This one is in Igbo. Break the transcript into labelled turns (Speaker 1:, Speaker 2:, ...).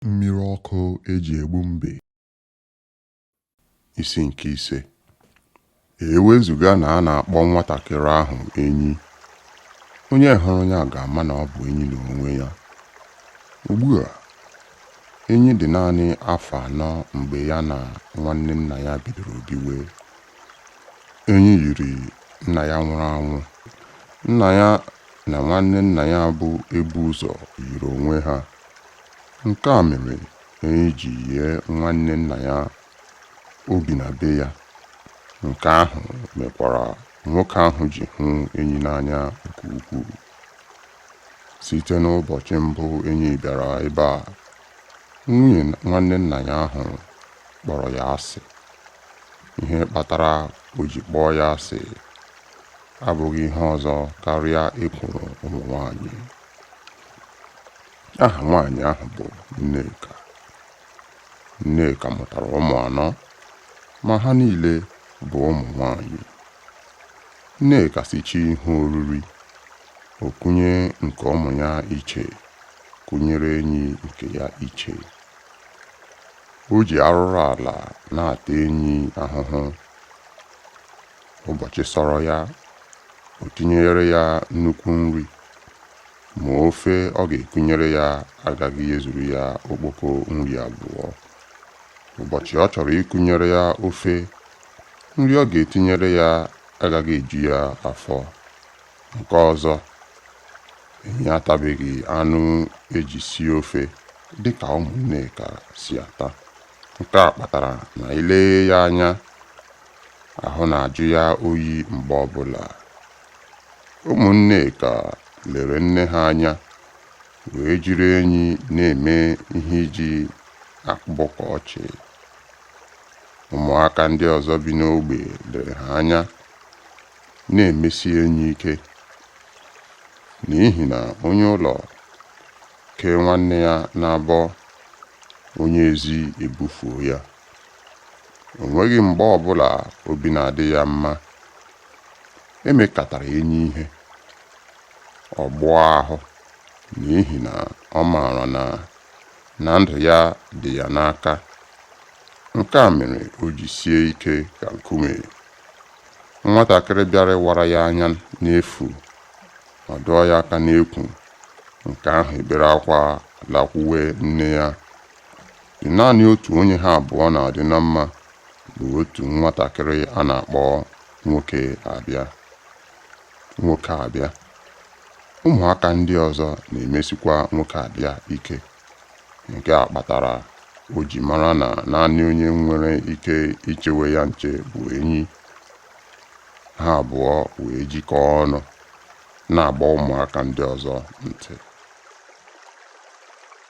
Speaker 1: Mmiri ọkụ eji egbu mbe. Isi nke ise ewezuga na a na-akpọ nwatakịrị ahụ enyi onye hụrụ ya ga-ama na ọ bụ enyi n'onwe ya ugbu a enyi dị naanị afọ anọ mgbe ya na nwanne nna ya bidoro biwe enyi yiri nna ya nwụrụ anwụ nna ya na nwanne nna ya bụ ebu ụzọ yiri onwe ha. Nke a mere Enyi ji yie nwanne nna ya o bi na be ya. Nke ahụ mekwara nwoke ahụ ji hụ Enyi n'anya nke ukwuu. Site n'ụbọchị mbụ Enyi bịara ebe a, nwunye nwanne nna ya ahụ kpọrọ ya asị. Ihe kpatara o ji kpọọ ya asị abụghị ihe ọzọ karịa ekworo ụmụ nwanyị. Aha nwanyị ahụ bụ Nneka. Nneka mụtara ụmụ anọ ma ha niile bụ ụmụ nwanyị. Nneka sichaa ihe oriri, o kunye nke ụmụ ya iche, kunyere enyi nke ya iche. O ji arụrụ ala na-ata enyi ahụhụ. ụbọchị sọrọ ya o tinyere ya nnukwu nri ma ofe ọ ga-ekunyere ya agaghị ezuru ya okpoko nri abụọ ụbọchị ọ chọrọ ikunyere ya ofe nri ọ ga-etinyere ya agaghị eju ya afọ nke ọzọ enyi atabeghị anụ eji sie ofe dịka ụmụ Nneka si ata nke a kpatara na i lee ya anya Ahụ na-ajụ ya oyi mgbe ọbụla. Ụmụ Nneka lere nne ha anya wee jiri enyi na-eme ihe eji akpọkọ ọchị. Ụmụaka ndị ọzọ bi n'ogbe lere ha anya na-emesi enyi ike n'ihi na onye ụlọ kee nwanne ya n'abọ, onye ezi ebufuo ya. O nweghị mgbe ọbụla obi na-adị ya mma. E mekatara enyi ihe, ọ gbụọ ahụ n'ihi na ọ maara na ndụ ya dị ya n'aka. Nke a mere o ji sie ike ka nkume. Nwatakịrị bịara ịwara ya anya n'efu ọ dọọ ya aka n'ekwu, nke ahụ ebere akwa lakwuwe nne ya. Naanị otu onye ha abụọ na-adị na mma bụ otu nwatakịrị a na-akpọ Nwokeabịa. Ụmụaka ndị ọzọ na-emesikwa Nwokeabịa ike. Nke a kpatara o ji mara na naanị onye nwere ike ichewe ya nche bụ Enyi. Ha abụọ wee jikọọ ọnụ na-agba ụmụaka ndị ọzọ ntị.